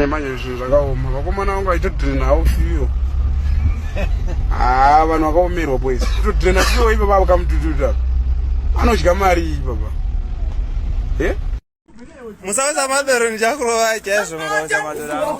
manje zvinhu zvakaoma vakomana vangu vaitodrina hawo fiyo haa ah, vanhu vakaomerwa boys kutodrina fiyo ipapa vakamutututa anodya mari iyi papa e eh? musauza madoro ndichakurova chaizvo mukauza madoro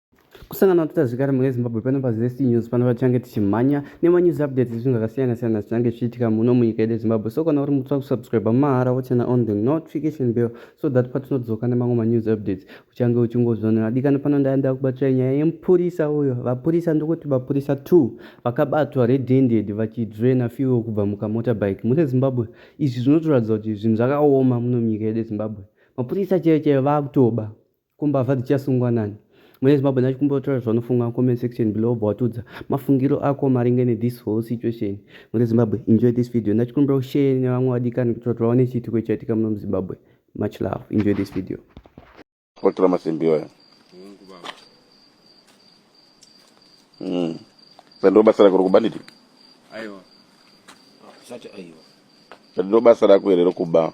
kusangana kuita zvekare mune zimbabwe pano pazc news pano patichange tichimhanya nemanews updates ezvinhu zvakasiyana siyana zvichange zvichiitika muno munyika yedu yezimbabwe so kana uri mutsva kusubscribe mahara wochena on the notification bill so that patinodzoka nemamwe manews updates uchange uchingozvionera dikani pano ndaya ndakubatsira nyaya yemupurisa uyo vapurisa ndokuti vapurisa two vakabatwa redended vachidrena fuel kubva mukamotorbike mune zimbabwe izvi zvinotoratidza kuti zvinhu zvakaoma muno munyika yedu yezimbabwe mapurisa chaiyo chaiyo vakutoba Ko mbavha dzichasungwa nani? Mune Zimbabwe nacho kumbotaura zvanofunga comment section below obva watudza mafungiro ako maringe ne this whole situation. Mune Zimbabwe enjoy this video nacho kumbira ushare nevamwe vadikani kuti vati vaone chiitiko chaitika muno muZimbabwe. Much love. Enjoy this video. Kutora masimbi iwayo. Mm. Sando basa rako rokuba nditi? Aiwa. Sati aiwa. Sando basa rako here rokuba?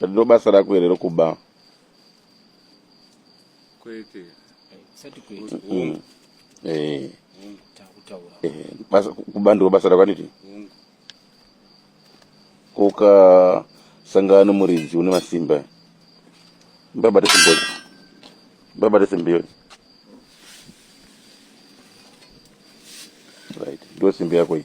Ndiro basa rako here rokuba? Kwete. Sati kwete. Mm. Eh. Takutaura. Eh, basa kuba ndiro basa rako aniti? Koka sangano muridzi une masimba. Mbabate simba. Mbabate simba yoni. Right. Ndio simba yako hii.